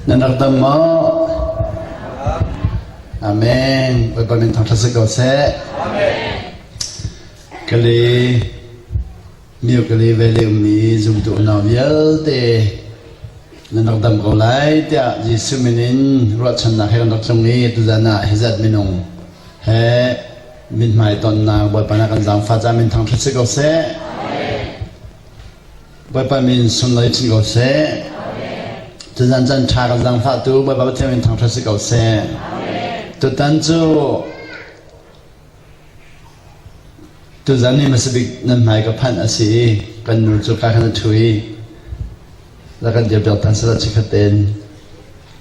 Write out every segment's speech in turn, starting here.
Nan rak dam maw? Amen. Bawipa min thang thla si ko seh. Amen. Kali Mercury Valley ummi zumtu unau vialte nan rak dam ko lai tiah Jesuh min in ruahchannak he kan rak tlung i tuzan ah hi zat minung he mithmai tonnak Bawipa na kan zaangfah caah min thangṭhat si ko seh. Bawipa min sunlai chin ko seh. Tuzan chan ṭha kan zaangfahtu Bawipa Pathian min thangṭhat si ko seh. Tutan cu Tuzan i hmasabik nan hmai ka phanh a si i kan nu cu ka khan a ṭhu i la kan dirpiak ṭhan sal ah chikkhat tein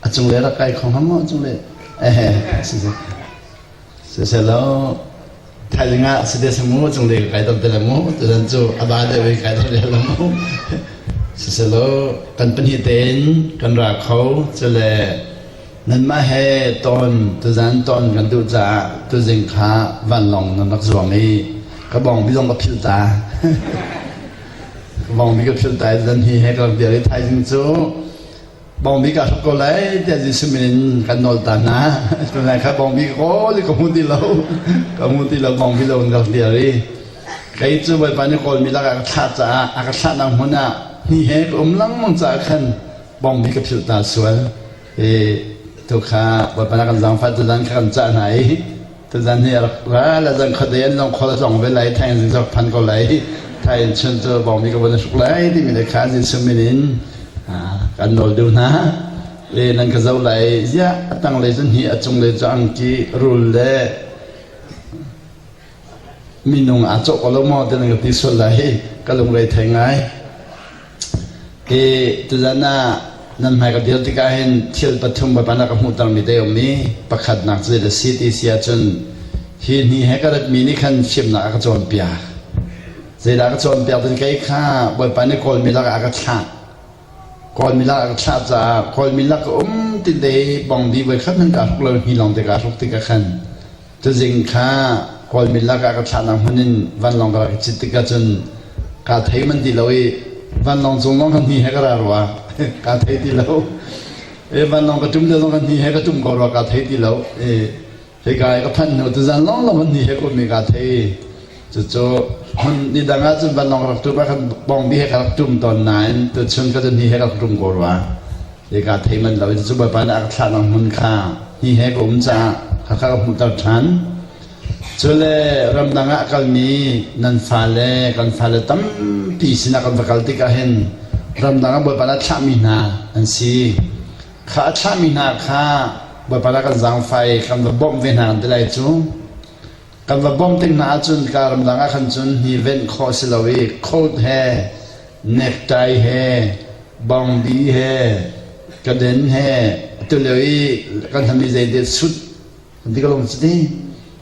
a cunglei rak kai kho hnga maw a cunglei ehe si seh siseh lo thaizing ah si desa mu a cunglei ka kai dom te le mu tuzan cu a ba deuh i kai dom te le mu siseh lo kan pahnih tein kan ra kho cule Nanmah he ton tuzan ton kan duh caah tuzing kha vanlawng nan rak zuang i ka bawngbi zong ka philh ta. ka bawngbi ka philh ta i zan hi he ka rak dir i thaizing cu bawngbi ka hruk ko lai tiah Jesuh min in kan nawl ta hna. Tunai kha bawngbi ka kawl i ka hmu ti lo. ka hmu ti lo bawngbi zong in ka rak dir i kei cu Bawipa nih kawlmi lakah ka thlah caah a ka thlahnak hmun ah ni he ka um lengmang caah khan bawngbi ka philh ta sual. i tu kha Bawipa na kan zaangfah tuzan kha kan cah hna i tuzan hi a rak ra la zang khuate an zong khual zong ve lai thai zing zong phan ko lai thai in chun cu bawmi ka bun suk lai timi le kha zin sumin in kan nawl deuh hna le nan ka zo lai ziah a tang le cun hi a cung le cu angki rul le minung aa cawh ko lo maw tiah nan ka ti sual lai hi ka lunglei thei ngai ke tuzan ah nan hmai ka dir tikah hin thil pathum bapan ka hmuhtermi te um i pakhatnak cu a si ti si ahcun hi ni he ka ratmi nih khan hrimnak a ka cawnpiak zeidah ka cawnpiak tin kei kha bawipa nih kawlmi lakah a ka thlah Kawlmi lak a ka thlah caah Kawlmi lak a um tinte i bongdi voikhat nan kaa hruk lo hni lawng te kaa hruk tikah khan cazing kha Kawlmi lak ah ka thlahnak hmun in vanlawng ka rak i cit tikah cun kaa thei man ti lo i vanlawng cung lawng ka hni he ka ra rua kaa thei ti lo i vanlawng ka ṭum te zong ka hni he ka ṭum ko rua kaa thei ti lo i Hika i ka phan hnu tuzan lawnglawng hmun hi he kum mi ka thei cucu hmun ni dang ah cun vanlawng rak tum kan bong bi he ka rak tum tawn nain tu chun ka cun hi he ka rak tum ko rua hika thei man lo in cu bawipa nih a ka thlah nang hmun kha hi he ka um ca ka ka hmuh ter ṭhan cule ramdang ah kalmi nan fale kan fale tampi sinah kan va kal tikah hin ramdang ah bawipa na thlahmi hna an si Kha a thlahmi hna kha Bawipa nih a kan zaangfai kan va bawmh ve hna kan ti lai cu. Kan va bawmh tik hna ahcun ka ramdang ah khan cun hi venh khawh a si lo i Colt he, necktie he, bongbi he, kaden he, atulio i kan hnambi zeite sut Dikalong citi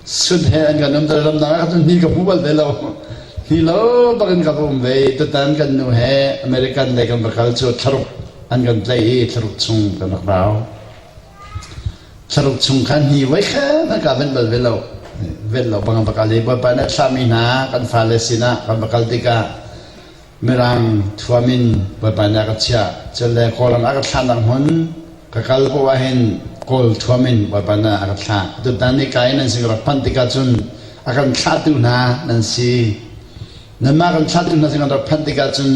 sun he an kan umter lamnak ah cun ni ka hmu bal ve lo ni lo bak in ka um ve tutan kan nu he American lei kan va kal cu thlaruk an kan tlai i thlaruk chung kan rak rau thlaruk chung khan ni vai khan an ka ven bal ve lo ven lo bang va kal i bawipa nih a thlahmi hna kan fale sinah kan va kal tikah Mirang thuam in bawipannak ka chiah. Cun le kawlram ah ka thlahnak hmun ka kal poh ah hin kawl thuam in bawipannak a ka thlah. Tutan i kai nan sin ka rak phanh tikah cun a kan thlahtu hna nan si. Nanmah kan thlahtu hna sin kan rak phanh tikah cun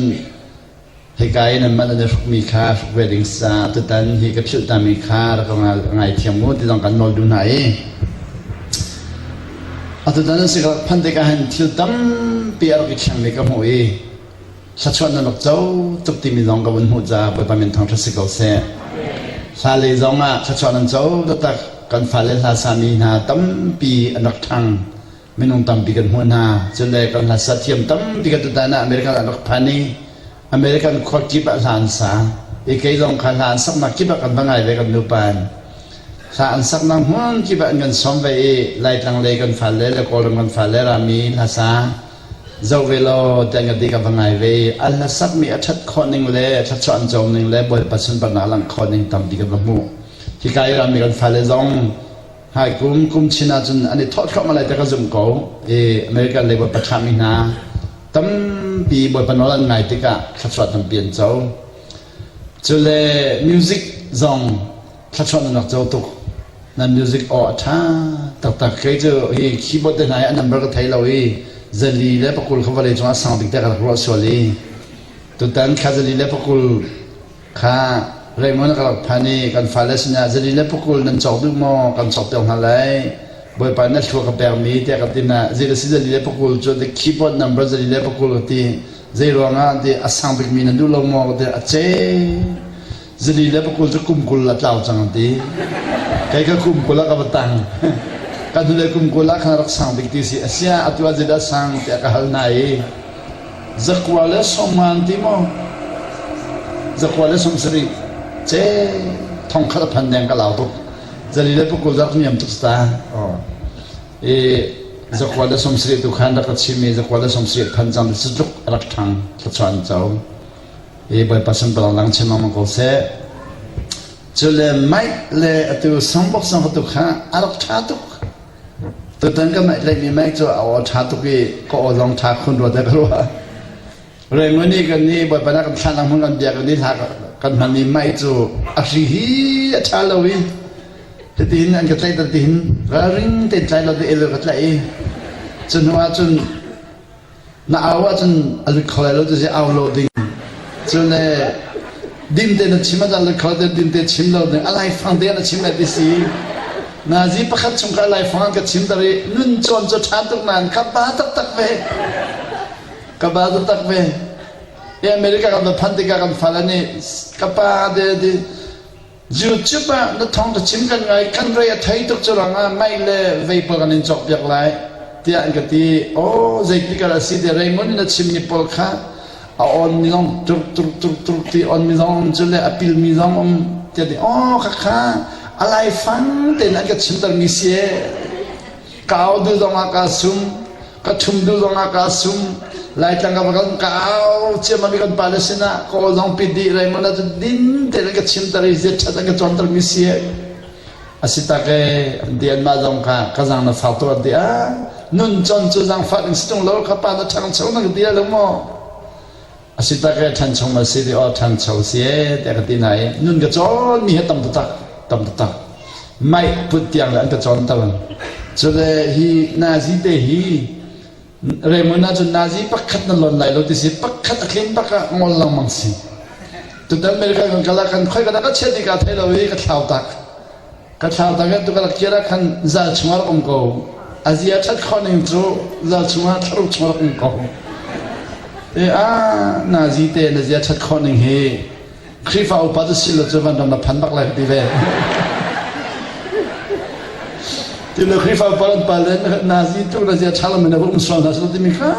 hika i nanmah nan i hrukmi kha hruk ve ding sa tutan hi ka philh tami kha rak ka ngaithiam u ti zong kan nawl duh hna i Atutan an si ka phandek ah hin thil tampi a rak i thleng mi ka hmuh i thluachuah nan rak co tuk timi zong ka vun hmuh caah Bawipa min thawng ṭha si ko seh. Hla lei zong ah thluachuah nan co taktak kan fale hla sami hna tampi an rak ṭhang minung tampi kan hmuh hna cun le kan hla sa thiam tampi kan tutan ah American an rak phan i American khuakip ah hla an sa. I kei zong kha hla an saknak kip ah kan va ngai ve kan nupa in. Hla an saknak hmun kip ah an kan som ve i laitlang lei kan fal le le kawlram kan fal le rami hla sa zo ve law tiang ka ti ka va ngai ve a hla sakmi a ṭhat khawh ning le a ṭhatchuan cawm ning le bawipa sunparnak langh khawh ning tam ti ka va hmuh. Hi ka i rami kan fale zong Hi kum kum chin ahcun an i thawh thluahmah lai ti ka zumh ko. I American Labour pathami hna tampi Bawipa nawl an ngai tikah thluachuah tampi an co. Cule music zong thluachuah nak co tuk. Na music aw a tha taktak kai cu hi keyboard te hna hi an number ka thei lo i zali le pakul kha vale cungah sang dik te ka rak ruah sual i tutan kha zali le pakul Kha reimawn ka phan i kan fale sinah zali le pukul nan cawk duh maw kan cawkpiak hna lai Bawipa na thlua ka pekmi tiah ka ti na zei si zali le pukul cu ti keyboard number zali le pukul ka ti zei ruangah ti a sang bikmi na duh lo maw ka ti a ce zali le pukul cu kum kul a tlau cang a ti kei ka kum kul ah ka va tang kan hnulei kum kul ah khan rak sang bik ti si a sia atu ah zil a sang tiah ka hal na i Zakua le som ngan ti maw? Zakua le som sarih. Ce thong khat a phan deng ka lau tuk. Zali le pukul dak niam tuk sta. I zakua le som sarih tu khan rak ka chim i zakua le som sarih phan cang si tluk rak thang thluchuan chau. I bawipa samtal lang chim mang ko se. Cule Mike le atu sangbok sang hotu kha a rak tha tuk. Tutan ka mah tlaih mi mai cu a aw ṭha tuk i ka aw zong ṭha khun rua dek rua. Rengun nih kan ni bawipa na kan thlan hmun kan biak ni hla kan hman ni mai cu a hri hi a ṭha lo i titin an ka tlaih tan tihin ralring tein tlai lo te el ka tlaih i cu hnu ah cun Na au ahcun a lut kho lai lo ti au lo ding. Cun dimte na chim ahcun lut kho te dimte chim lo ding a laifang te na chim lai ti si. Nazi pakhat chung ka laifang an ka chim tar i nun cawn cu ṭhan tuk nain ka ba taktak ve. Ka ba taktak ve. I America kan va phan tikah kan fal an i ka pa te ti YouTube ah na thawng ka chim kan ngai kan rei a thei tuk cu rangah mei le vapor kan in cawk piak lai tiah an ka ti aw zeitik ah si te reimun na chimmi pawl kha a on mi zong turk turk turk turk ti on mi zong cu le a pil mi zong um tiah ti aw khakha a lai fang tein an ka chimter mi si e kau dil zongah kaa sum ka thum dil zongah kaa sum laitlang ka kan kau ciam mi kan pale sinah kawl zong pi di rai mana tu din te ka chim tar i zet that ka chon tar mi si asi tak e dian ma zong ka ka zang na fa to di a nun chon chu zang fa ning situng lo ka pa na thang chang na dia lo mo A si tak e ṭhan chung ma si ti aw ṭhancho si e tiah ka ti na i nun ka cawnmi hi tam taktak tam taktak maih put tiang le an ka cawn tal cule hi nazi te hi Raymond na cun nazi pakhat na lon lai lo ti si pakhat a tlin pak ah ngol lengmang si tutan America kan kala kan khoi ka da ka chiat i ka thei lo i ka thlau tak Ka thlau tak tu ka rak kir ah khan zal chungah rak um ko. A zia that khon ning cu zal chungah thlaruk chungah rak um ko. E a na zi te na zia that khon ning hi Khrihfa upat a si lo cu van ram na phan bak lai ka ti ve. Ti le Khrihfa upat an pal le na zi tu na zia tha lam na um sual na su ti mi kha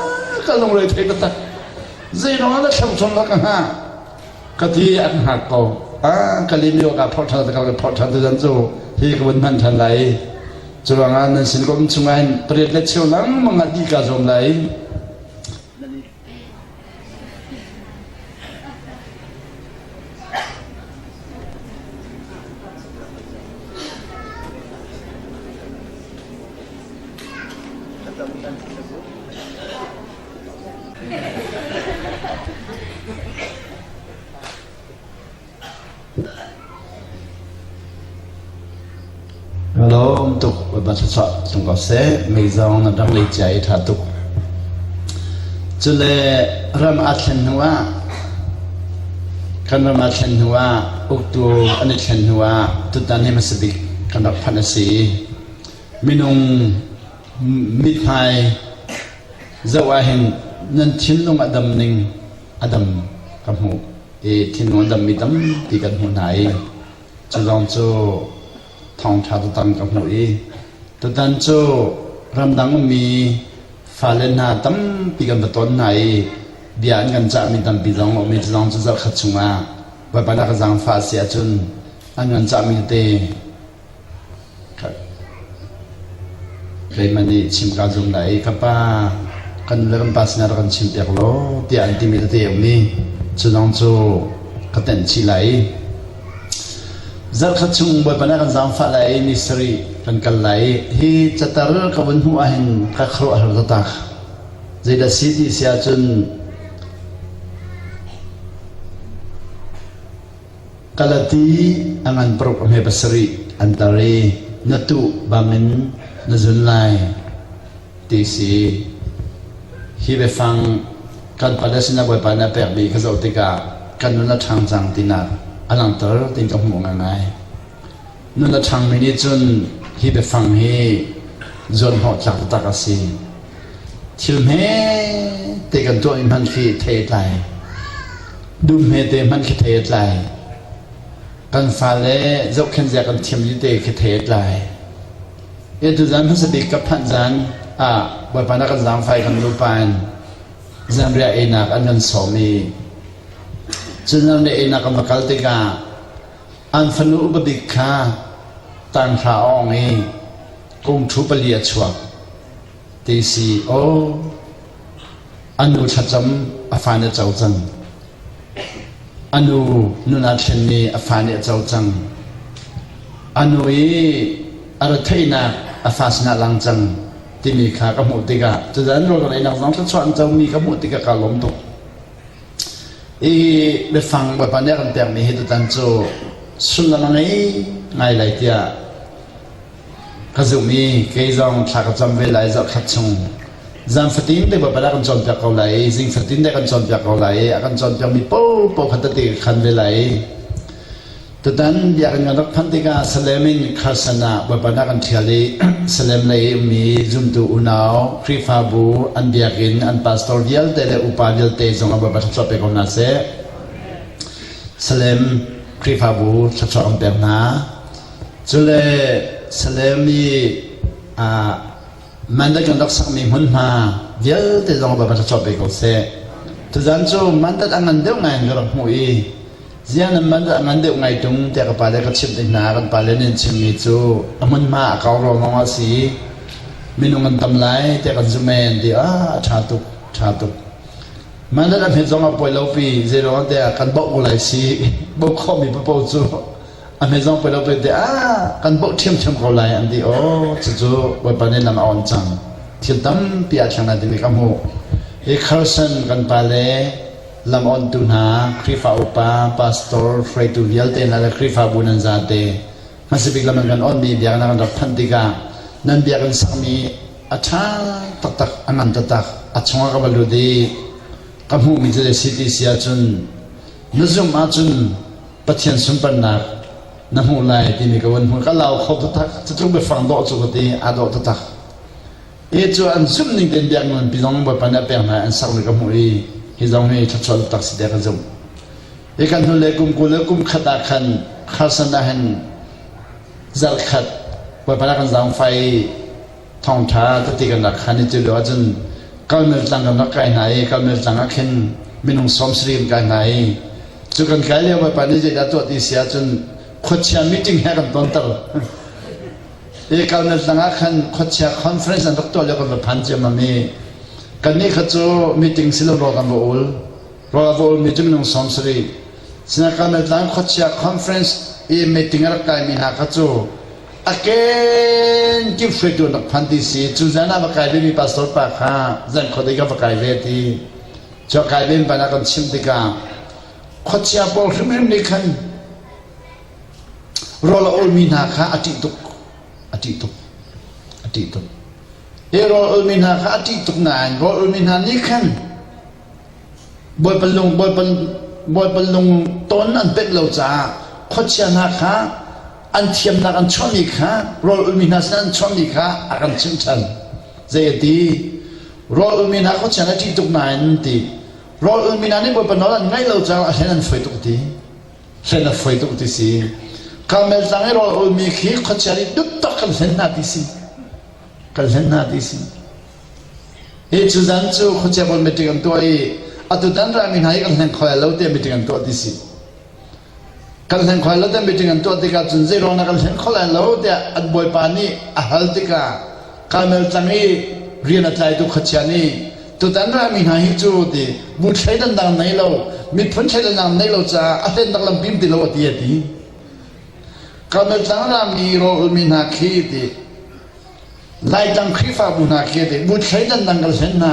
ka lung re thei ta tak. Zeirong na thleng chon lak ha ka ti an hngar ko ka limi awkah phorh ṭhan ka phorh ṭhan tu cu hi ka vun hman ṭhan lai cu ruangah nan sin kom chungah hin pariat le cheu nangmang ah ti ka zuam lai Lawm tuk ba sa sa tung ko se mei zong na dang lei chia i tha tuk cule ram a thlen hnu ah kan ram a thlen hnu ah uktu an i thlen hnu ah tutan hi masabik kan rak phanh a si minung mithmai zoh ah hin nan thinlung a dam ning a dam ka hmuh i thinlung a dammi tampi kan hmuh hna i cu zong cu thawngṭha tutan ka hmuh i tutan cu ramdang ummi fale hna tampi kan va ton hna i bia an kan cahmi tampi zong a um i cu zong cu zarhkhat chungah baibal a ka zaangfah a si ahcun an kan cahmi tete Keimah nih chimka a zum lai i ka pa kan le kan pa sinah rak kan chim piak law tiah an timi tete a um i cu zong cu ka tenh chih lai i zarhkhat chung Bawipa nih a kan zaangfah lai i ni sarih kan kal lai i hi catar ka vun hmuh ahhin ka khuaruahhar taktak zeidah si ti si ahcun Kalati a ngan paruk a hme pasarih an tar i na tuh bangin na zun lai, ti si. Hi biafang kan pale sinah Bawipa nih a pek mi ka zoh tikah kan nun a ṭhang cang tinak a langhter ti ka hmuh ngaingai. Nun a ṭhangmi nih cun hi biafang hi zuanhnawhtlak taktak a si. Thil hmete kan tuah mi hmanh khi thei a tlai. Dum hmete hmanh khi thei a tlai. Kan fale zohkhenh zia kan thiam dite khi thei a tlai. Etu zan hmasa bik ka phanh zan ah Bawipa na kan zaangfai kan nupa in zanriah einak an kan sawm i cun zanriah einak kan va kal tikah An fanu upa bik kha tanhra awng i kum ṭhu pali a chuak, ti si aw. A nu thlacam a fa nih a co cang. A nu nunah thlenmi a fa nih a co cang. A nu i a retheihnak a fa sinah a lang cang timi kha ka hmuh tikah cucaah nul ka ngeihnak zong thluachuah an comi ka hmuh tikah kaa lawm tuk. Hi biafang Bawipa nih a kan pekmi hi tutan cu sullam a ngei ngai lai tiah ka zumh i kei zong thla ka cam ve lai zarhkhat chung zan fatin te Bawipa nih a kan cawnpiak ko lai i zing fatin te a kan cawnpiak ko lai i a kan cawnpiakmi paohpaoh kha tete ka khan ve lai. Tutan biakinn kan rak phanh tikah Salem in Carson ah bawipanak an ṭhial i Salem lei i ummi zumtu unau, Khrihfabu, an biakinn, an pastor vialte le upa vialte zong ah bawipa thluachuah pe ko hna seh. Salem Khrihfabu thluachuah kan pek hna. Cule Salem i uh, Mandal kan rak sakmi hmunhma vialte zong va va cawt ve ko seh. Tuzan cu mandal a ngan deuh ngai in ka rak hmuh i zian in mandal a ngan deuh ngai tung tiah ka pale ka chimh ding hna kan pale nih an chimmi cu a hmunhma a kau ruangawng a si i minung an tam lai tiah kan zumh en ti ah a ṭha tuk ṭha tuk mandal a hmet zong a pawi lopi zeiruangah tiah kan bauh ko lai si bauh khawhmi papo cu a hnei zong pei lo pete ah kan boh ṭhiamṭhiam ko lai an ti aw cucu bawipa nih lam a on cang thil tampi ah thleng lai ding ka hmuh i kharsan kan pa le lam ontu hna Khrihfa upa pastor hruaitu vialte hna le Khrihfabu nan zate ngasibik lam in kan onmi biaknak kan rak thanh tikah nan biak in sakmi a ṭha taktak a ngan taktak a chungah ka va lut i ka hmuhmi cu si ti si ahcun na zumh ahcun Pathian sunparnak na hmuh lai timi ka van hmuh ka lau kho taktak cutlung biafang dawh cu ka ti aa dawh taktak e cu an zumh ning tein biak nan pi zong bawipa nih a pek hna an sak le ka hmuh i hi zong hi thlachuah taktak si dek ka zumh i kan hnu le kum kul le kum khat ah khan kharsan ah hin zarh khat bawipa na kan zaangfai thawngṭha ka ti kan rak khan i cu lio ahcun kalmel tlang kan rak kai hna i kalmel tlang ah khin minung sawm sarih kan kai hna i cu kan kai lio bawipa nih zeidah tuah ti si ahcun khuachia meeting he kan tonter i kalmel tlang ah khan khuachia conference an rak tuah lio kan va phan ciammam i kannih kha cu meeting si lo rawl kan va ul rawl va ulmi cu minung sawm sarih sinah kalmel tlang khuachia conference i meeting a rak kaimi hna kha cu a kenkip hruaitu nak phan ti si cu zan ah va kai ve mi pastor pa kha zan khua dei ka va kai ve ti cu kai ven ban ah kan chim tikah khuachia pawl hrimhrim nih khan rawl a ol mi hna kha a ṭih tuk a ṭih tuk a ṭih tuk hi rawl ol mi hna kha a ṭih tuk nain rawl ol mi hna nih khan Bawipa lung tawn an penh lo caah khuachia hna kha an thiamnak an chuahmi kha rawl ulmi hna sinah an chuahmi kha a kan chimhchan. Zei a ti? Rawl ulmi hna khuachia na ṭih tuk nain an ti. Rawl ulmi hna nih Bawipa nawl an ngaih lo caah a hlen an foi tuk ti. Hlen a foi tuk ti si. Karmel tlang i rawl ulmi khi khuachia nih duk tak kan hlen hna ti si. Kan hlen hna ti si. Hi cu zan cu khuaceu in meeting an tuah i atutan rami hna hi kan hleng khoai lo tiah meeting an tuah ti si. Kan hleng khoai lo tiah meeting an tuah tikah cun zeiruang dah kan hleng kho lai lo tiah an bawipa nih a hal tikah Karmel tlang i rian a tlaitu khuachia nih tutan rami hna hi cu ti bu thleidannak nei lo miphun thleidannak nei lo caah a hlennak lam pim ti lo a ti a ti. Karmel tlang rami roulmi hna khi ti Laitlang Khrihfabu hna khi te bu thleidannak kan hlen hna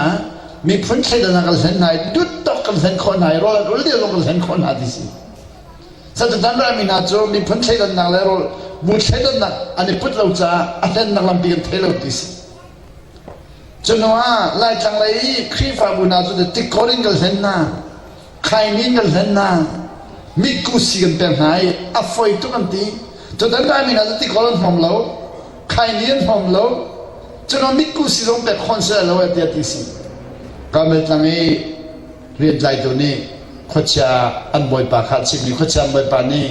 miphun thleidannak kan hlen hna duttawk kan hlen khawh hna i rawl ul dil kan hlen khawh hna ti si satutan rami hna cu miphun thleidannak le rawl bu thleidannak an i put lo caah a hlennak lampi kan thei lo ti si cu hnu ah Laitlang lei Khrihfabu hna cu tikor in kan hlen hna Khaimi kan hlen hna. Mitku si kan pek hna i a foi tuk an ti. Cun an rai min ah ti kawl an hnom lo. Khaini an hnom lo. Cun a mitku si zong pek khon seh lo e tiah ti si. Kamet tlang i rian tlai tu nih khuachia an bawipa kha chimmi khuachia an bawipa nih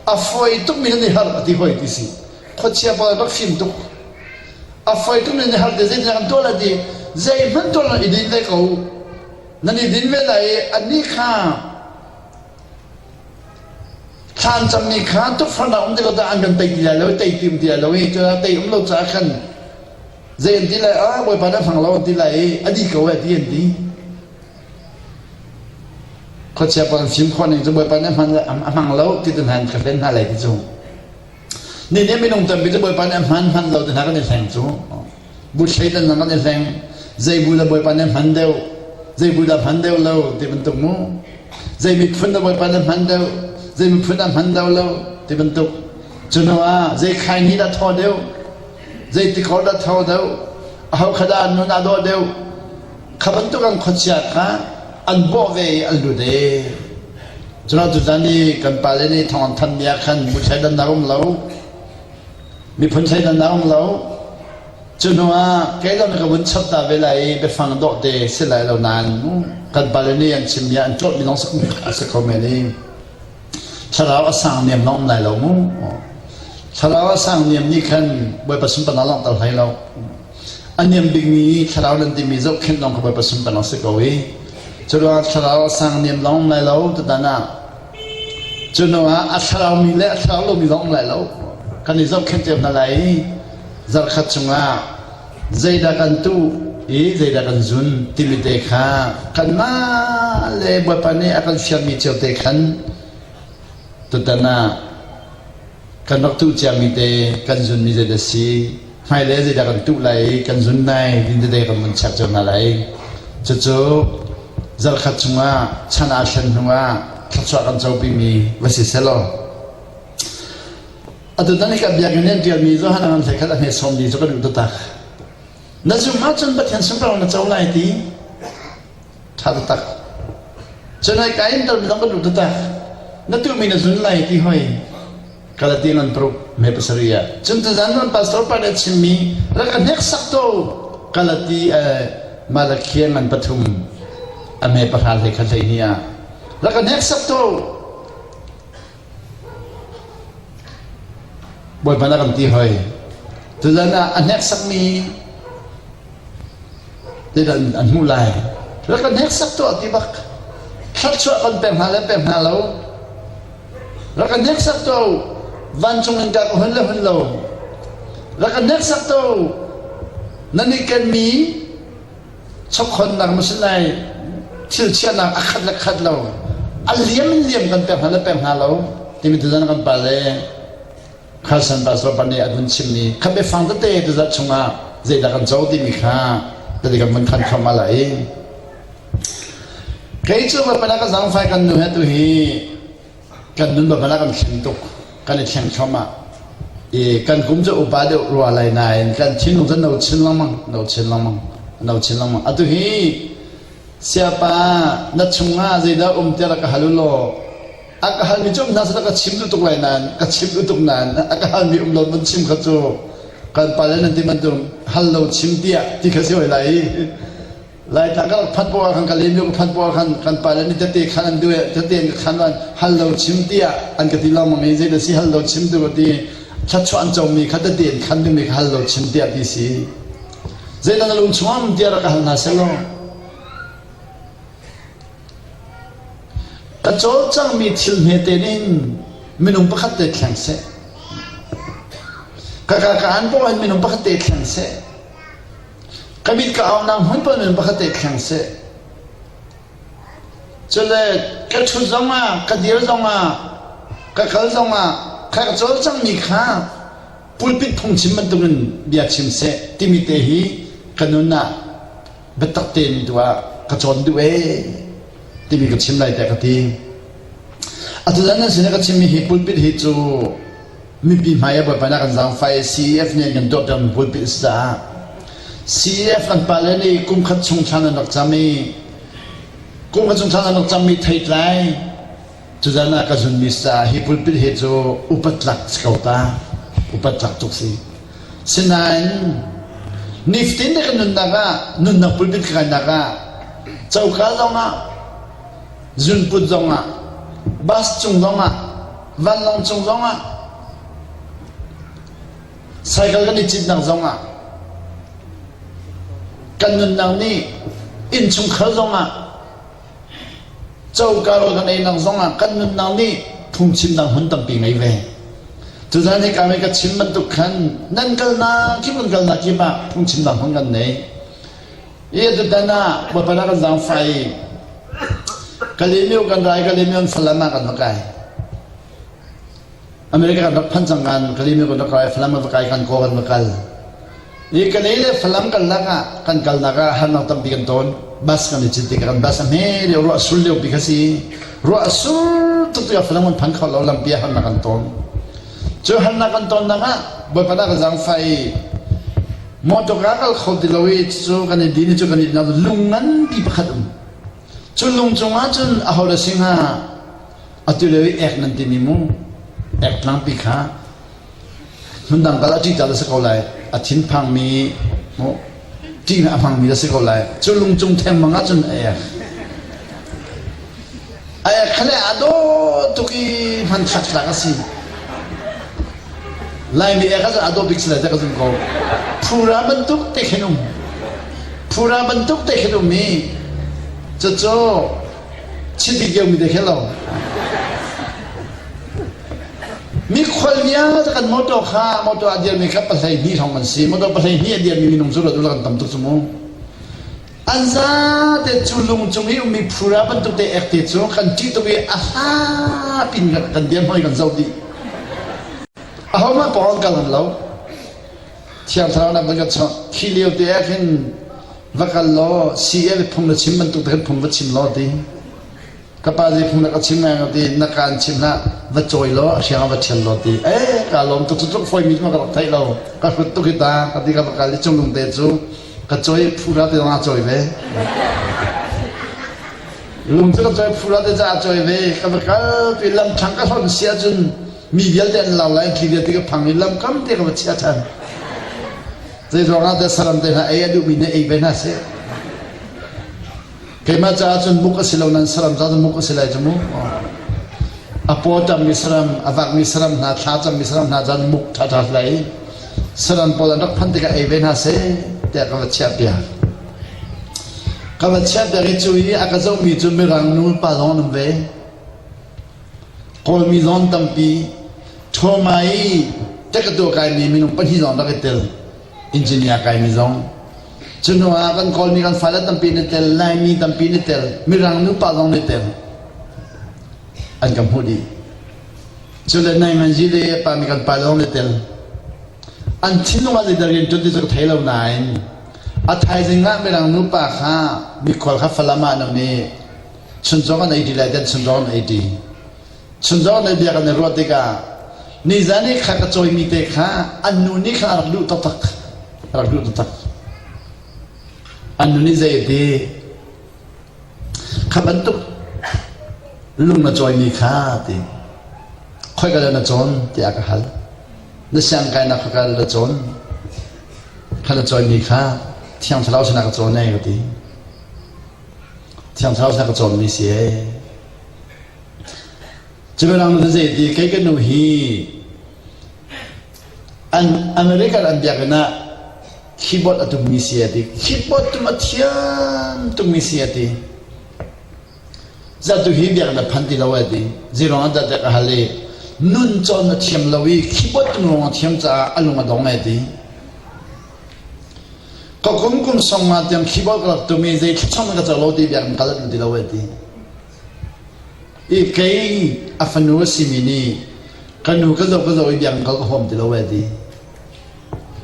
a foi tukmi kan i har a ti hoi ti si. Khuachia pa bak fim tuk. A foi tukmi kan i har ti zeitindah kan tuah le ti zeihmanh tuah lo i din hlei ko. nan i din ve lai i anih kha thlan cammi kha tukforhnak um ti lo tah an kan tei ti lai lo i tei ti um ti lai lo i cun tei um lo caah khan zei an ti lai ah bawipa na hrang lo an ti lai i a di ko e ti an ti khuachia pa kan fim khawh ning cu bawipa na hman a hmang lo ti tin han ka hlen hna lai ti cung Nihin ah minung tampi cu Bawipa nih a hman hmanh lo ti hna kan i hleng cu. Bu Satan hna kan i hleng. Zei bu dah Bawipa nih a hman deuh? Zei bu dah a hman deuh lo? ti bantuk mu. Zei miphun dah Bawipa nih a hman deuh? Zei miphun dah a hman deuh lo? ti bantuk. Cu hnu ah zei khaini dah thaw deuh? Zei tikor dah tho deuh? Aho khat ah nun aa dawh deuh? Kha bantuk an khuachia kha an bawh ve i an lut e. Cuna tutan i kan pale nih thong an thanmi ah khan muthei dan a um lo. Miphun thei dan a um lo. Cu hnuah keilon ka vun chap ta ve lai i biafang dawh te si lai lo nain kan pale nih an chimmi ah an tlawtmi lawng a si kho men i thlarau a sang niam lawng um lai lo mu. Thlarau a sang niam nih khan Bawipa sunparnak lawng tel hlei lo. A niam bikmi thlarau nan timi zohkhenh lawng kha Bawipa sunparnak a si ko i curuang thlarau a sang niam lawng lai lo tutan ah cu hnuah a thlarau mi le a thlarau lomi lawng lai lo kan i zohkhenh cio hna lai i zarkhat chungah zeidah kan tuh i zeidah kan zun timi te kha kanmah le Bawipa nih a kan fialmi cio te khan Tutan ah kan rak tuh ciami te kan zunmi zeid a si. Hmailei zeidah kan tuh lai i kan zun lai din tete kan vun chek cio hna lai. Cucu zarkhat chungah chan aa thlen hnuah thluachuah kan copimi va si selaw atutan i kan biakinn in ṭialmi Johan an hlei khat a hme sawmmi cu kan duh taktak. Na zumh ahcun Pathian sunparnak na co lai ti Ṭha taktak. Cun hoi ka in dal zong kan lut taktak. Na tuhmi na zun lai ti hoi Galati ngan paruk me pasarih ah. Cun tuzan nan pastor pa nih a chimmi rak ka hnek sak to Galati eh, Malakhia ngan pathum a me pahra hlei khat hlei ni ah rak ka hnek sak to Bawipa na kan ti hoi. Tutan ah a hneksakmi tidan an hmuh lai. Rak kan hneksak tuah ti bak thlarchuah kan pek hna le pek hna lo. Rak kan hneksak tuah vancung in ka ka hun le hun lo. Rak kan hneksak tuah nan i kenmi chokkhonnak na si lai thil chiahnak a khat le khat lo a liam in liam kan pek hna le pek hna lo timi tuzan kan pale Carson Basra nih a vun chimmi khan biafang tete tuzat chungah zeidah kan co timi kha tadi kan vun khan kham ala i kei cu ka pala ka zangfai kan nu he tu hi kan nun bal a kan thlen tuk kan i thleng thluam ah i kan kum cu upa deuh rua lai nain kan thinlung cu no chin lengmang no chin lengmang no chin lengmang atu hi siapa na chungah zeidah um tiah ka hal u law a ka halmi cu um hna seh ka chim tuk lai nan ka chim tuk nan a ka halmi um lo nan chim kha cu kan pa le nan ti bantuk hal lo chim tiah ti kha si hoi lai Laitla kal phat pawl khan ka lemlung phat pawl khan kan pa le nih tate khan an duh i tate an ka khan an hal lo chim tiah an ka ti lawmang i zei si hal lo chim tu ka ti thluachuah an cawmi kha tate an khan dingmi kha hal lo chim tiah ti si zeitan a lung chungam tiah rak ka hal hna selaw ka cawl cangmi thil hmete nin minung pakhat te thleng seh ka ka ka an paw hin minung pakhat te thleng seh Ka mit ka hau nak hmun pawl in pakhat te thleng seh. Cule ka ṭhut zongah, ka dir zongah, ka kal zongah kha ka cawl cangmi kha pulpit phungchim bantukin bia chim seh timi te hi ka nun ah biatak tein tu ah ka cawn duh ee timi ka chim lai tiah ka ti. Atu zan nan sin i ka chimmi hi pulpit hi cu mipi hmai ah buaibainak an zaangfai CEF nih an kan tuahpiakmi buapi a si caah CEF an pale nih kum khat chung thlan an rak cam i kum khat chung thlan an rak cammi theitlai tuzan ah ka zunmi caah hi pulpit he cu upat tlak si ko ta upat tlak tuk si sinain niftin na kan nunnak ah nunnak pulpit ka kainak ah coka zong ah zunput zong ah bus cung zong ah vanlawng cung zong ah cycle kan i citnak zong ah kan nunnak nih innchungkhar zong ah coka rawl kan einak zong ah kan nunnak nih phungchimnak hmun tampi ngei ve tuzan hi kami ka chim bantuk khan nan kalnak kip nan kalnak kip ah phungchimnak hmun kan nei Atutan ah Bapan ah kan zaangfai i Kalemyo kan ra i Kalemyo an Falam ah kan va kai. America kan rak phan cang kan Kalemyo kan rak kai Falam kan va kai kan ko kan va kal. I Kale le Falam kal lak ah kan kalnak ah harnak tampi kan tawn. Bus kan i cin tik kan bus a hme leo ruah sul leo pi kha si. Ruah sul tuk tu Falam kan phan khawt lo lampi ah harnak kan tawn. Cu harnak kan tawn nak ah Bapan ah kan zaangfai i Motor ka kal kho ti lo i cucu kan i din i cu kan i din ahcun lung nganpi pakhat um. Cu lung cungah cun ahola sing ha atu leo i ek nan timi mu ek tlangpi kha hmundang kal a ṭih tal a si ko lai a thinphangmi mu ṭihna a hmangmi a si ko lai cu lung cung thengmang ahcun a ek Khaleh a dawt tuk i hmanthlak tlang a si. Lai nih ka a dawt bik si lai ka zum ko. Phura bantuk te khin um. Phura bantuk te khin um i cucu chidik yau mi te khin lo. Mi khual vialte kan motor kha motor a dir mi kha pahlei hni thong an si. Motor pahlei hni a dir mi minung cu rat kan tam tuk cu mu. An zate cu lung cung i ummi phura bantuk te ek te cu kan ṭih tuk i a hlapi in kan dir hoi kan zo dih. Ahohmanh pawng kal an lo. Thiang thlarau lam kan chawk. Khi lio te ah khin va kal law si e le phung na chim bantuk te khin phung va chim law ti. ka pa zeihmanh na ka chim ngai lo ti na kaan chim hlah va cawi law a hriang ah va ṭhial law ti e kaa lawm tuk cutluk fawimi cu ka rak theih lo ka hrut tuk hi ta ka ti ka va kal i cunglung te cu ka cawi phura te zong a cawi ve lung cu ka cawi phura te caah a cawi ve ka va kal tu i lam ṭhang ka hlonh si ahcun mi vialte an lau lai thli vialte ka phang i lam kam te ka va chia ṭhan zei ruangah te saram te hna ei a duhmi ne ei ve hna seh Keimah caah cun buk a si lo, nan saram caah cun buk a si lai cu mu. A pawtangmi saram, a vakmi saram hna, thlacammi saram hna cun muk thatha lai. Saram pawl an rak phan tikah ei ve hna seh, tiah ka va chiah piak. Ka va chiah piak i cu i a ka zohmi cu mirang nu pa lawng an um ve. Kawlmi zawn tampi, ṭhawma i te ka tuah kaimi minung pahnih zawn rak i tel. engineer kai mi zong cuhnu ah kan kawlmi kan fale tampi na tel laimi tampi na tel mirang nupa zong na tel an kan hmuh dih cule nai manji le pa mi kan pa zong na tel an thinlung ah zeidah rian ṭuan ti cu ka thei lo nain a thaizing ah mirang nupa kha mikhual kha falam ah nan i sunzong an ei ṭi lai ten sunzong an ei ṭi Chunzawh lei bia kan i ruah tikah nizan i kha ka cawimi te kha an nu nih khan a rak luh taktak a rak luh taktak an nu nih zei ti kha bantuk lung na cawimi kha ti khoi ka na cawn tiah ka hal na siang kai na khoi ka na cawn kha na cawimi kha thiang thlarau sinah ka cawn ai ka ti Thiangthlarau hlak a cawmmi si ee. Cubialang nu zei ti kei ka nu hi an America an biakinn ah keyboard a tummi si a ti keyboard tum a thiam tummi si a ti zatu hi biakinn a phan ti lo a ti zirong an zatek a hal i nun cawn a thiam lo i keyboard tum rong a thiam caah a lung a dong a ti Ka kum kum song nga tiang khibawi ka rak tum i zei thlacam in ka co lo ti biak in kal a duh ti lo e ti. I kei a fanu a simi nih ka nu ka zoh ka zoh i biak in kal ka huam ti lo e ti.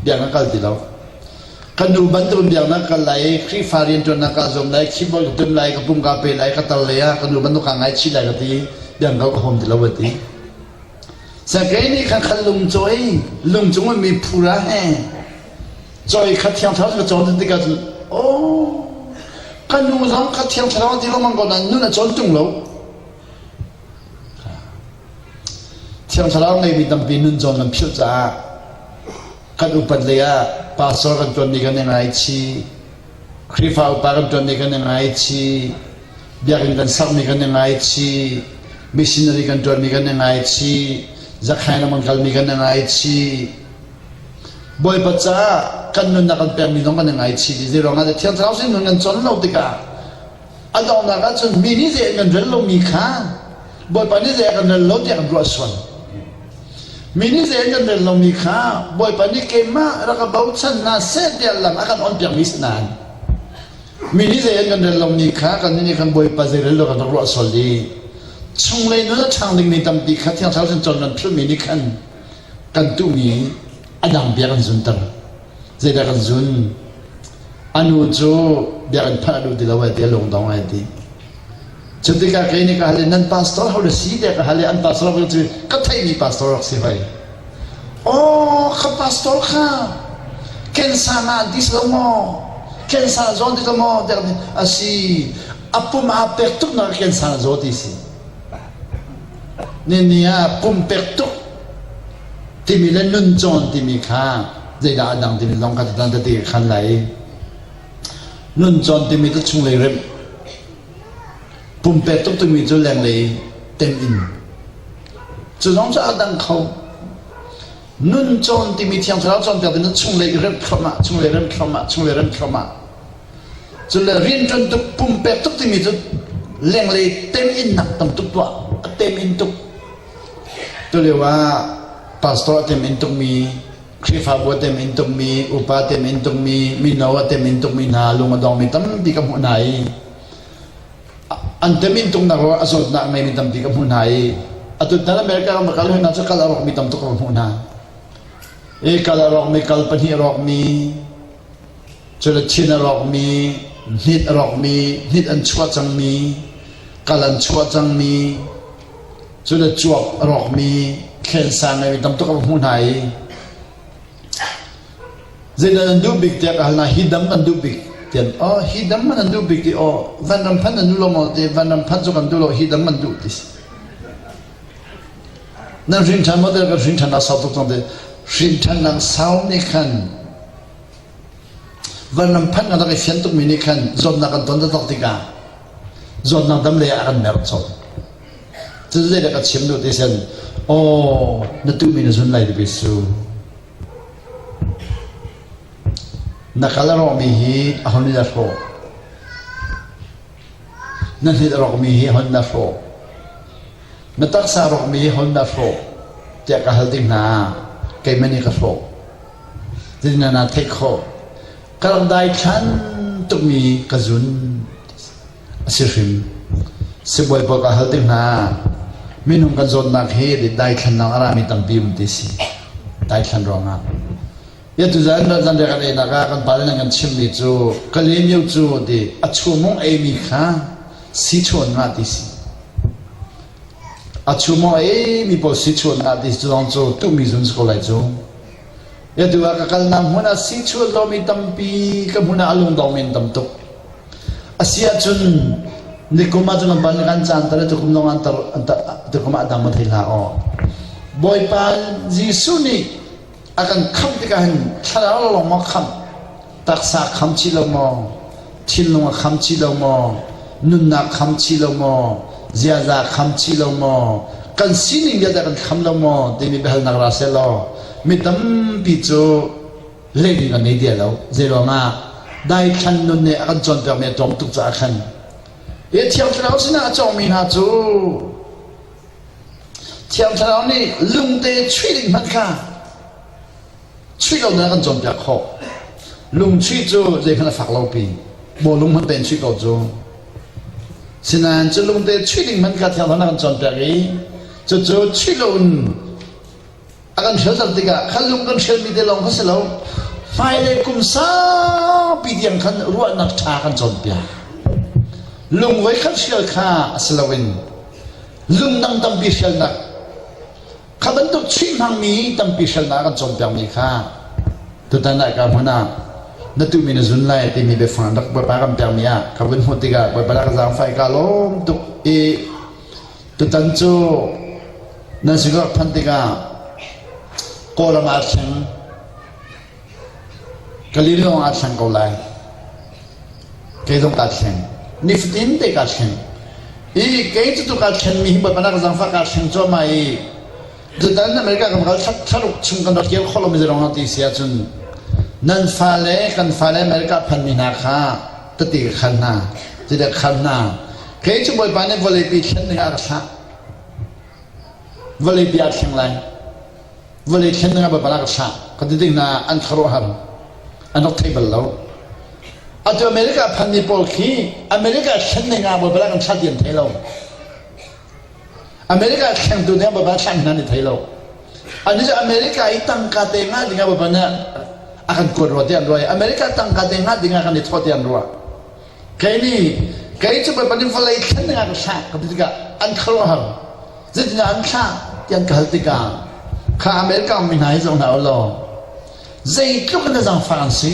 Biak in a kal ti lo. Ka nu bantukin biak na kal lai i Khrihfa rianṭuannak ka zuam lai, khibawi ka tum lai, ka pum ka pe lai, ka tar lai ah ka nu bantuk kaa ngaichih lai ka ti. Biak in kal ka huam ti lo e ti. Sakei nih khan khan lung cawi lungcung in mi phura he cawi kha thiang thlarau ka cawn tin tikah cun oh ka nu zong ka thiang thlarau ti lomang ko na nun a cawn tung lo thiang thlarau ngeimi tampi nun cawn kan philh caah kan upat lei ah pastor kan tuan ni kan i ngaichi Khrihfa upa kan tuan ni kan i ngaichi biakinn kan sakmi kan i ngaichi missionary kan ṭuanmi kan i ngaichi zakhain lam kan kalmi kan i ngaichi bawipa caah kan nunnak kan pekmi zong kan i ngaichi ti zeiruangah thiang thlarau sin nun kan con lo tikah a donghnak ahcun mi nih zei an kan rel lomi kha bawipa nih zei kan rel lo tiah kan ruah sual mi nih zei an kan rel lomi kha bawipa nih keimah rak ka bochan hna seh tiah lam a kan on piakmi si nan Mi nih zei an kan rel lomi kha kan nih nih kan Bawipa zei rel lo kan rak ruah sual i chunglei nun a ṭhang dingmi tampi kha Thiang Thlarau sin cun nan philhmi nih khan kan tuhmi a dang bia kan zunter. Zeidah kan zun? A nu cu biakinn phanh a duh ti lo ai ti, a lungdong ai ti. Cu tikah kei nih ka hal i nan pastor ho na si te ka hal i an pastor ko cu ka theimi pastor rak si hoi. Oh, ka pastor kha ken sang ah dis lo maw? Ken sang zawn ti ko maw? Tiah asi. Apum ah pek tuk na ken sang zaw ti si. Nini ah pum pek tuk timi le nun cawn timi kha zeidah a dang timi long ka tan te khan lai. Nuncawn timi cu chunglei remh, pumpek tuk timi cu lenglei tem in. Cu zong cu aa dang kho. Nun cawn timi Thiang Thlarau cawnpiak ding cu chunglei remh thluam ah, chunglei remh thluam ah, chunglei remh thluam ah. Cule rianṭuan tuk, pumpek tuk timi cu lenglei tem in nak tam tuk tuah, a tem in tuk. Tulio ah pastor a tem in tukmi Khrihfabu a tem in tummi, upa a tem in tummi, mino a tem in tummi hna lung a dongmi tampi ka hmuh hna i an tem in tumnak ruangah a zawtnak ngeimi tampi ka hmuh hna i a tutan America ram kal hna cu kal a rawkmi tam tuk ka hmuh hna. I kal a rawkmi kal pahnih a rawkmi cu le thin a rawkmi hnit a rawkmi hnit an chuah cangmi kal an chuah cangmi Cule cuap a rawkmi thlensan le mi tamtuk an hmuh hna i zeidah an duh bik tiah ka hal hna hi dam an duh bik tian oh hi dam man an duh bik ti oh van ram phan an duh lo maw te van ram phan cu kan duh lo hi dam an duh ti nan hrin ṭhan maw kan hrin ṭhan a sau tuk cang te hrin ṭhan nak sau nih khan van ram phan kan rak i fian tukmi nih khan zawtnak kan ton tak tikah zawtnak dam le a kan mer cho Zeidah ka chim duh ti sin, aw, na tuhmi na zun lai dibis cu. Na kal a rawkmi hi a hun nih a hrawh. Na hlit a rawkmi hi a hun na hrawh. Na taksa a rawkmi hi a hun na hrawh. Tiah ka hal ding hna, keimah nih ka hrawh. Titin na theih khawh. Ka rak dai thlan tukmi ka zun. Sibawi pawl ka hal tik hna ah minung kan zawtnak hi daithlannak a rami tampi um ti a si. Daithlan ruangah. Atuzain zanriah kan einak ah kan pale nih kan chimmi cu ka lemio cu ti a chumung eimi kha sichuan ngah ti si. A chumung eimi pawl sichuan ngah ti si zong cu tuhmi zun si ko lai cu. Atu ah ka kalnak hmun ah sichuan lomi tampi ka hmun ah a lungdong men tam tuk. A si ahcun nikum ahcun kan parlik ah an caan ter i tukum lawng ah ter tukum ah dang va thei hlah aw. Bawipa Jesuh nih a kan khamh tikah hin thlarau lawng maw khamh taksa kham chi lo maw thinlung a kham chi lo maw nunnak kham chi lo maw ziaza kham chi lo maw kan sining vialte kan kham lo maw timi biahalnak ra se law mi tampi cu leiding kan nei dia lo zei ruangah daithlan nun nih a kan cawnpiakmi a tlawm tuk caah khan ya thiang thlarau sinah a cawngmi hna cu thiang thlarau nih lungte chuih ding hmanh kha chuih lo nan kan cawnpiak khawh lungchuih cu zeikhan a fak lopi maw lung hmanh tein chuih ko cu sinain cu lungte chuih ding hmanh kha thiang thlarau na kan cawnpiak i cucu chuih lo in A kan hrialter tikah kha lung kan hrialmi te lawng kha si lo hmailei kum saupi tiang khan ruahnak ṭha kan cawnpiak lungvei kan hrial kha a si loin lungdang tampi hrialnak kha bantuk chuih hmangmi tampi hrialnak kan cawnpiakmi kha tutan ah ka hmun ah na tu mi na zun lai timi biafang rak bawipa kan piakmi ah ka vun hmuh tikah bawipa rak zaangfai ka lawm tuk i Tutan cu nan sinah phanh tikah kawlam ah thleng ka li lawngah thleng ko lai kei zong kaa thleng nifatin te kaa thleng i kei cutu kaa thlenmi hi bawipa nak zangfah kaa thleng cuahmah i Tutan America kan kal tharuk chung kan rak kir kholo mi zong a ti si ahcun nan fale kan fale America phan mi hna kha ka ti ka khal hna ti da khal hna kei cu bawipa nih vawlei pi thlen ning a rak thlah vawlei pi a thleng lai vawlei thlen ning a bawipa rak thlah ka ti ding na an kharo har an rak thei bal lo atu America phan mi pawl khi America thlen ning a bawipa kan thlah ti an thei lo America thlengtu nih baba thleng hna ni thei lo. Ani cu America i tangka te nga dingah baba nih a kan kuat rua tiah an ruah i America tangka te nga dingah kan i thawh tiah an ruah. Kei nih kei cu baba nih vawlei thlen dingah ka thlak ka ti tikah an khuaruahhar. Zeitindah an thlak ti an ka hal tikah kha America mi hna hi zong hna u law zeitluk in na zangfah an si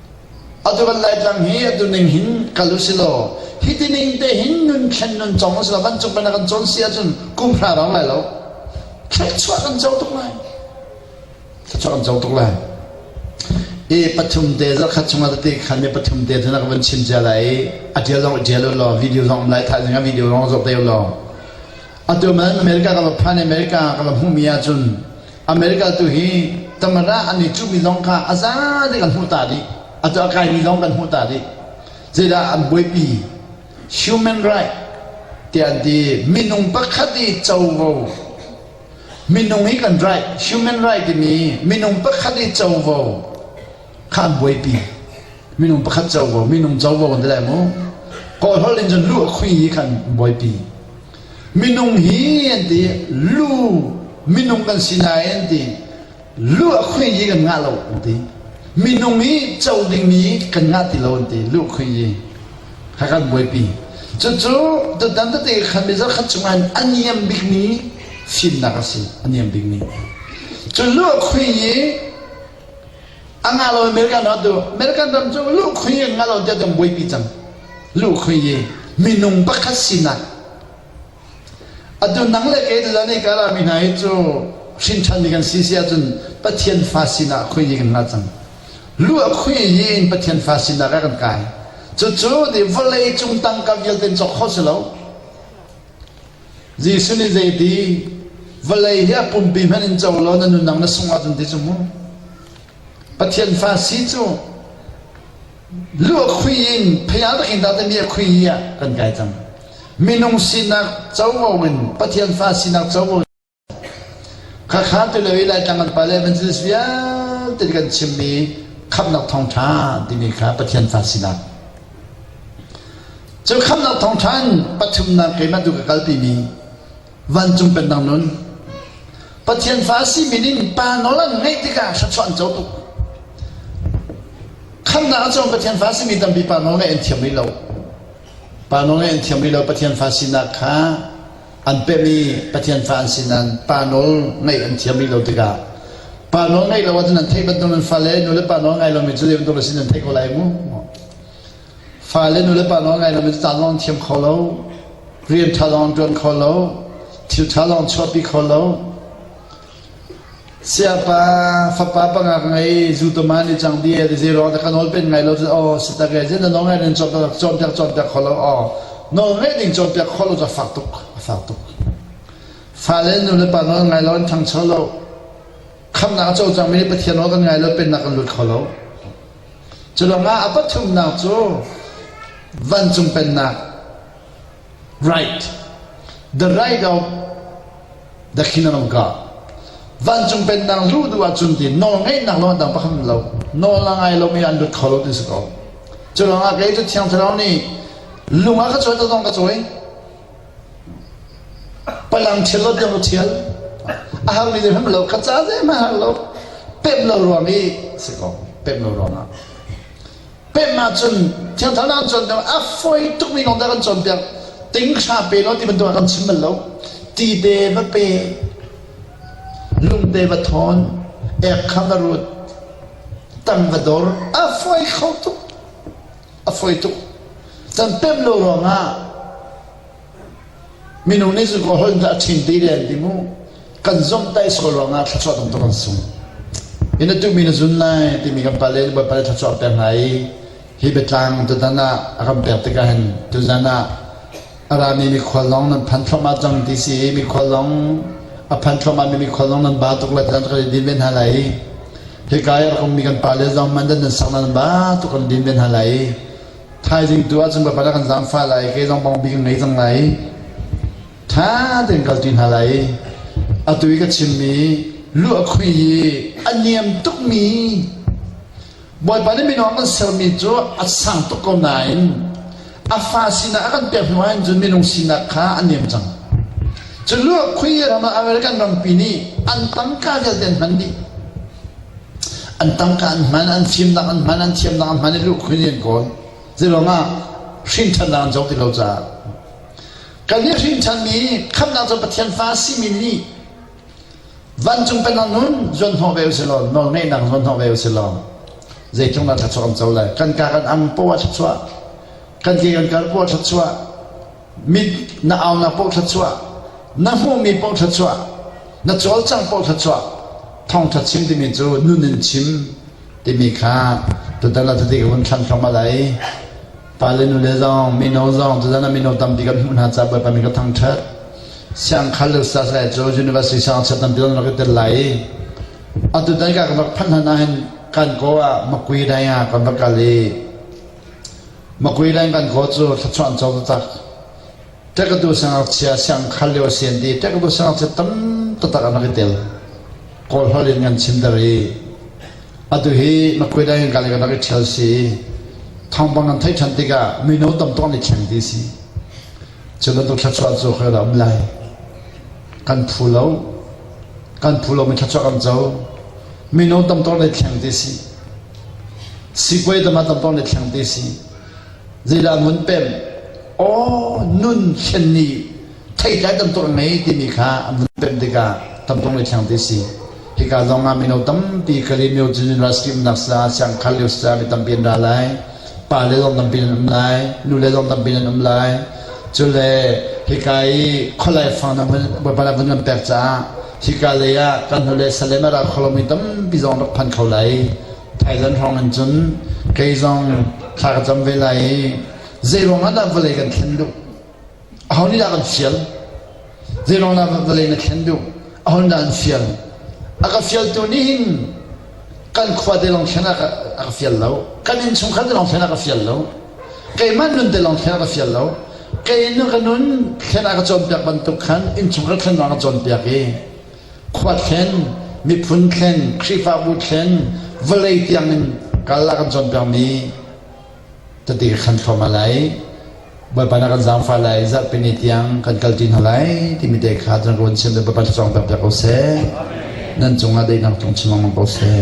Atu kan Laitlang hi atu ning hin kal u si law hi ti ning te hin nun thlen nun cong u si law vancung panh ah kan cawn si ahcun kum hra rang lai lo thluachuah kan co tuk lai thluachuah kan co tuk lai i pathum te zarkhat chung ah tete khan mi pathum te thana ka van chim cia lai i a tial zong i tial u law video zong um lai thah zing ah video zong zok te u law atu man America ka va phan i America ka va hmuhmi ahcun America tu hi tamara an i cuhmi zong kha a za te kan hmuh ta rih. A tu a kaimi zong kan hmuh ta rih. Zeidah an buaipi human right ti an ti minung pakhat i covo minung hi kan right human right timi minung pakhat i covo khan buaipi minung pakhat covo minung covo kan ti lai mu kawl hol in cun lu a khui hi khan buaipi minung hi an ti lu minung kan si nain ti lu a khui hi kan ngah lo an ti minung hi co ding mi kan ngah ti lo an ti lu khui hi kha kan buaipi cucu tutan tete khan mi zakhat chungan aniam bik ni finnak a si aniam bik ni cu lu a khui hi A ngah lo American rat du. American ram cu lukhoi in ngah lo tiah kan buaipi cang. Lukhoi i minung pakhat sinak. Atu nang le kei tila nei kala mi hna hi cu hrinṭhan ni kan si si ahcun Pathian fa sinah khoi ni kan ngah cang. Lu a khoi yi in Pathian fa sinah ka kan kai. Cucu ni vawlei cung tangka vialte in cawk kho si lo. Jesuh nih zeiti? Vawlei hi a pumpi hmanh in co law na nunnak na sungh ahcun ti cu mu. Pathian fa si cu lu a khui in pheial takin dah timi a khui hi ah kan kai cang. Minung sinak covo in Pathian fa sinak covo Khakhaan tilo i Laitlang kan pale Evangelist vialte nih kan chimmi Khamhnak Thawngṭha timi kha Pathian fa sinak. Cu Khamhnak Thawngṭha in pathumnak keimah tu ka kalpimi vancung pennak nun Pathian fa simi ning pa nawl an ngeih tikah thluachuah an co tuk. Khamhnak ahcun Pathian fa simi tampi pa nawl ngeih an thiam rih lo. Pa nawl ngeih an thiam rih lo. Pathian fa sinak kha An pemh i Pathian fa an si nain pa nawl ngaih an thiam rih lo tikah pa nawl ngaih lo ahcun an theih bantuk in fale nu le pa nawl ngai lomi cu zei bantuk a si nan theih ko lai mu. Fale nu le pa nawl ngai lomi cu caan lawng thiam kho lo, rian ṭha lawng ṭuan kho lo, thil ṭha lawng chuahpi kho lo, Siangpa fapa panga ka ngei, zutawm ah an i cang dih ee, zeiruang ah dah ka nawl peng ngai lo cu aw si tak ee, zein dah nawlngaih nan cawnpiak cawnpiak kho lo aw. Nawlngaih ding cawnpiak kho lo cu a fak tuk, a fak tuk. Fale nu le pa nawl ngai lo an ṭhangcho lo. Khamhnak a co cangmi nih Pathian nawl kan ngai lo, pennak kan lut kho lo. Cu ruangah a pathumnak cu vancung pennak, Right. The right of the kingdom of God. Vancung pennak luh duh ahcun ti nawl ngeihnak lawng dang pakhat lo nawl la ngai lo mi an lut kho lo ti si ko cu ruangah kei cu thiang thlarau nih lung ah ka cuai to zong ka cuai palang thil lo tiang ka thial a har ni hrim lo ka ca zei ma har lo pep lo ruang i si ko pep lo ruang ah pennak cun thiangthar nak an cawn ter a foi tukmi kong dah kan cawn ter tinghra pe lo ti bantuk ah kan chim bal lo ti te va pe lung te va thawn ek kham va rut tang va dor a foi kho tuk a foi tuk can pem lo ruangah Minung nih cun holhnak a ṭhing ti len ding u. Kan zomhtaih sual ruangah thluachuah tamtuk an sung. In atu mi na zun lai timi kan pale le bawipa thluachuah ter hna i hi biatlang tutan ah a kan pek tikah hin tuzan ah a rami mikhual lawng nan phan thluahmah cang ti si i mikhual lawng a phan thluahmahmi mikhual lawng nan ba tuk le tiah kan i din ve hna lai i hika i a rakmi kan pale zong man dan nan sak nan ba tuk kan din ve hna lai i Thaizing tu ahcun Bawipa na kan zaangfah lai, kei zong bang bik in ngei cang lai. Ṭha tein kalṭi hna lai. Atu i ka chimmi luh a khui i a niam tukmi Bawipa nih minung kan sermi cu a sang tuk ko nain a fa sinah a kan pek hnu ahhin cun minung sinak kha a niam cang. Cu luh a khui ram American rampi nih an tangka vialte an hman dih. An tangka an hman, an fimnak an hman, an thiamnak an hman i lukhun in an kawl. Zeiruangah hrinthannak an zoh ti lo caah. Kan nih hrinthanmi khamnak cu Pathian fa simi nih vancung penah nun zuan hnawh ve usih law, nawlngeihnak zuan hnawh ve usih law, zeitlung dah thluachuah kan co lai? Kan ka kan ang paw a thluachuah, kan ke kan kal paw a thluachuah, Mit na au na paw thluachuah, na hmuhmi paw thluachuah, na cawlcang paw thluachuah, thawngtha chim timi cu nun in chim timi kha tutan la tati ka hun thlan thluam alai pale nule zong mino zong tutan mino tampi kan hmuh hna ca bawipa mi ka thangthat siangkhal le ustaz lai cu university sang cha tampi kan rak tel lai atutan ka ka rak phan hna hin kan ko ah makui dai nga kan va kal i Makui le kan kaw cu thluachuah an co taktak. Ṭekatu sangakchia siang khar lio a si an ti. Ṭekatu sangakchia tam taktak an rak i tel. Kawl hlol in kan chimter i atu hi makui le kan le kan rak i ṭhial si i thawngpang kan theih ṭhan tikah mino tam tuk an i thleng ti si. Cu bantuk thluachuah cu khoi dah um lai. Kan phu lo. Kan phu lo mi thluachuah kan co. Mino tam tuk an i thleng ti si. Sipuai tam ah tamtawng le thleng te si. Zeidah ngun pem? Aw nun thlen ni theitlai tamtawk ngei timi kha an vun pem tikah tamtawng le thleng te si. Hika zong ah mino tampi kali myo cun ras kim nak sa siang khal lio sa mi tampi an ra lai. Pa le zong tampi an um lai. Nu le zong tampi an um lai. Cule hika i kholai fang na vun baipala vun kan pek caah Hika lei ah kan hnulei Salem a ra kholomi tampi zong rak phan kho lai. Thailand hrawng in cun kei zong thla ka cam ve lai i zeiruang ah dah vawlei kan thlen duh aho nih dah kan fial zeiruang dah vawlei na thlen duh aho nih dah an fial a ka fialtu nih hin kan khuate lawng thlen ah a ka fial lo kan innchungkhar te lawng thlen ah ka fial lo keimah nun te lawng thlen ah ka fial lo kei nu ka nun thlen ah ka cawnpiak bantuk khan innchungkhar thlen lawng ka cawnpiak i khua thlen miphun thlen khrihfabu thlen vawlei tiangin kal ah kan cawnpiakmi Tati ka khan thluahmah lai. Bawipa na kan zaangfah lai, zarhpini tiang kan kalṭi hna lai timi te kha cun ka vun chim i Bawipa thluachuang pek ko seh. Nan cungah daihnak tung chim lengmang ko seh.